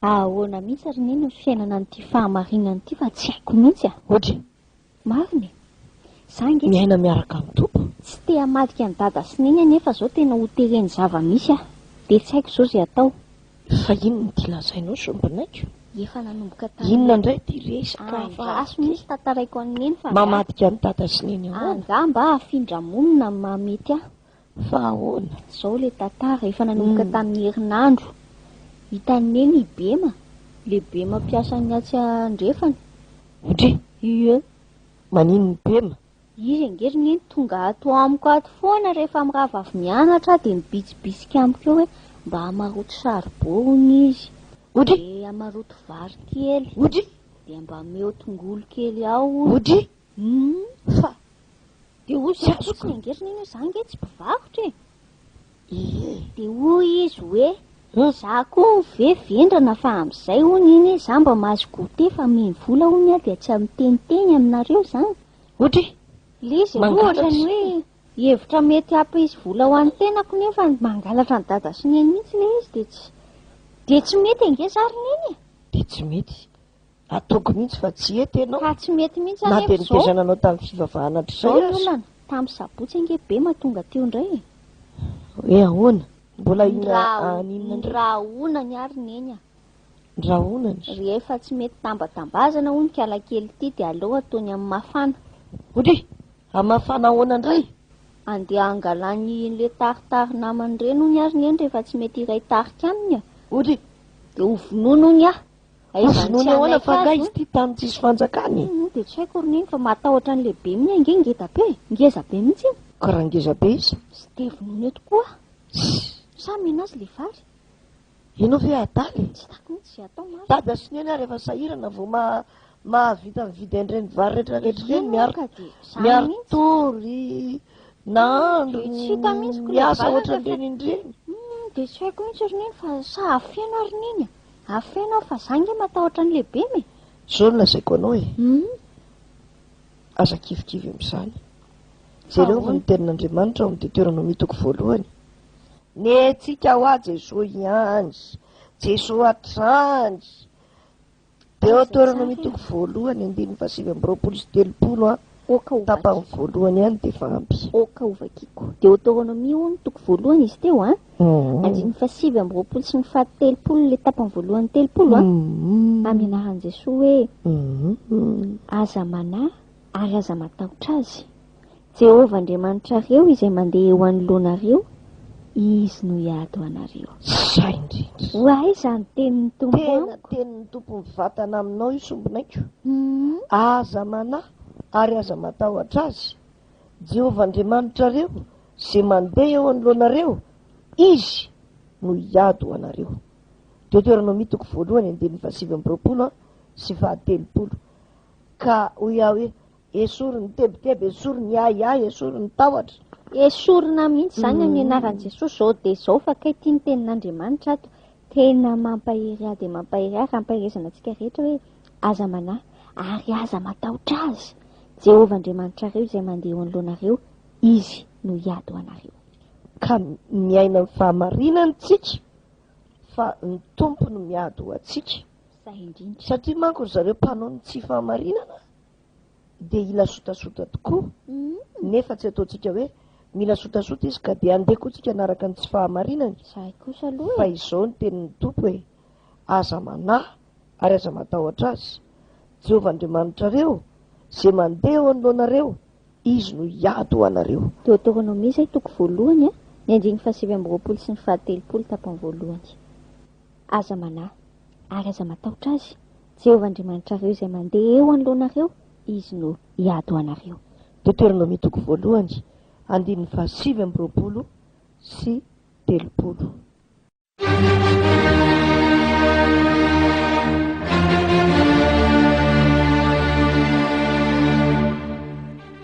Fa ahoana mihitsy ary neny ny fiainana an'ity fahamarinana ity fa tsy haiko mihitsy a! Odry. Marina e! Za ange. Miaina miaraka amin'ny Tompo. Tsy te hamadika an'i Dada sy Neny anefa zao tena ho teren'ny zava-misy aho. Dia tsy haiko zao izay atao. Fa inona ity lazainao sombinaiko? Efa nanomboka tamin'ny. Inona indray ity resaka hafa ary ity? Andraso mihitsy tantaraiko an'i Neny fa angaha. Mamadika an'i Dada sy Neny ahoana? Angaha mba hafindra-monina no mahamety ahy. Fa ahoana? Zao le tantara efa nanomboka tamin'ny herinandro hitan'i Neny i Bema, le Bema mpiasan'ny atsy andrefana. Dry! Ie! Maninona i Bema? Izy ange ry Neny tonga ato amiko ato foana rehefa mirava avy mianatra aho dia mibitsibitsika amiko eo hoe mba hamaroto charbon hono izy, dia hamaroto vary kely, dia mba ameo tongolo kely ao hono, Humm fa dia hoy izy azoko ny angeriny anie za nge tsy mpivarotra e! ee. Dia hoy izy hoe za koa ve vendrana fa amin'izay hono iny e za mba mahazo goûter fa mino vola hono aho dia tsy amin'ny teniteny aminareo zany. Ohatra hoe. Ilay izy aloha ohatran'ny hoe hevitra mety hampisy vola ho an'ny tenako nefa mangalatra an'i dada sy neny mihitsy ilay izy dia tsy dia tsy mety ange za ry neny e! Dia tsy mety. Ataoko mihitsy fa tsy hety ianao. Fa tsy mety mihitsy anefa izao. Na dia nitezana anao tamin'ny fivavahana hatrizay aza. Izao ny olana, tamin'ny sabotsy ange be mahatonga teo indray e. Hoe ahoana? Mbola inona any inona indray? Ny rahonany ary neny a. Ny rahonany? Rehefa tsy mety tambatambazana hono kiala kely ity dia aleo ataony amin'ny mafana. Odry! Amin'ny mafana ahoana indray? Andeha hangalany ilay taritary namany ireny hono ary neny rehefa tsy mety hiray tarika aminy a. Odry! Dia hovonoiny hono aho. Ho vonoiny ahoana fa angaha izy ity tany tsisy fanjakana e. Moa dia tsy haiko ry neny fa matahotra an'ilay be minia ange ngeda be e, ngeza be mihitsy iny. Ka raha ngeza be izy? Tsy dia vonoina eto koa aho. Sa mino azy ilay vary? Ianao ve adala e? Tsy hitako mihitsy izay atao marina. Dada sy neny ary efa sahirana vao mahavita mividy an'ireny vary retraretra ireny miaritory nahandro miasa ohatran'ireny indreny. Dia tsy haiko mihitsy ry neny fa sa afeno ary neny e. Afeno aho fa za nge matahotra ny lehibem e! Zao no lazaiko anao e! Aza kivikivy amin'izany. Jereo fa ny tenin'Andriamanitra ao amin'ny Deteronomia toko voalohany. Nentsika ho ahy Jesoa ihany. Jesoa hatrany. Deoteronomia toko voalohany andininy fahasivy amby roapolo sy telopolo an. Ok ho vakiko. Tapany voalohany ihany dia efa ampy. Ok ho vakiko. Deoteronomia hono ny toko voalohany izy teo an? Mhm. Andininy fahasivy amby roapolo sy ny fahatelopolo ilay tapany voalohany telopolo an? Mhm. Amin'ny anaran'i Jesoa hoe Mhm. aza manahy ary aza matahotra azy. Jehovah Andriamanitrareo izay mandeha eo anoloanareo Izy no hiady ho anareo. Izay indrindra. Ho aiza ny tenin'ny Tompo amiko? Tena tenin'ny Tompo mivatana aminao io sombinaiko. Aza manahy ary aza matahotra Azy. Jehovah Andriamanitrareo izay mandeha eo anoloanareo, Izy no hiady ho anareo. Deoteronomia toko voalohany andininy fahasivy amby roapolo sy fahatelopolo. Ka hoy aho hoe, Esory ny tebiteby, esory ny ahiahy, esory ny tahotra. Esorina mihitsy izany amin'ny mm. anaran'i Jesosy izao dia izao fa kay tia ny tenin'Andriamanitra ato. Tena mampahery ahy dia mampahery ahy fampielezana antsika rehetra hoe aza manahy ary aza matahotra azy. Jehovah Andriamanitrareo izay mandeha eo anoloanareo, izy no hiady ho anareo. Ka miaina ny fahamarinany tsika fa ny tompo no miady ho antsika. Satria manko ry zareo mpanao ny tsy fahamarinana dia hila sotasota tokoa, nefa tsy ataontsika hoe mila sotasota izy ka dia andeha koa tsika hanaraka ny tsy fahamarinany, fa izao ny tenin'ny Tompo hoe, Aza manahy ary aza matahotra azy, Jehovah Andriamanitrareo, izay mandeha eo anoloanareo, Izy no hiady ho anareo. Deoteronomia izay toko voalohany, ny andininy fahasivy amby roapolo sy ny fahatelopolo tapany voalohany. Aza manahy ary aza matahotra azy, Jehovah Andriamanitrareo izay mandeha eo anoloanareo, Izy no hiady ho anareo. Deoteronomia toko voalohany, andininy fahasivy amby roapolo sy telopolo.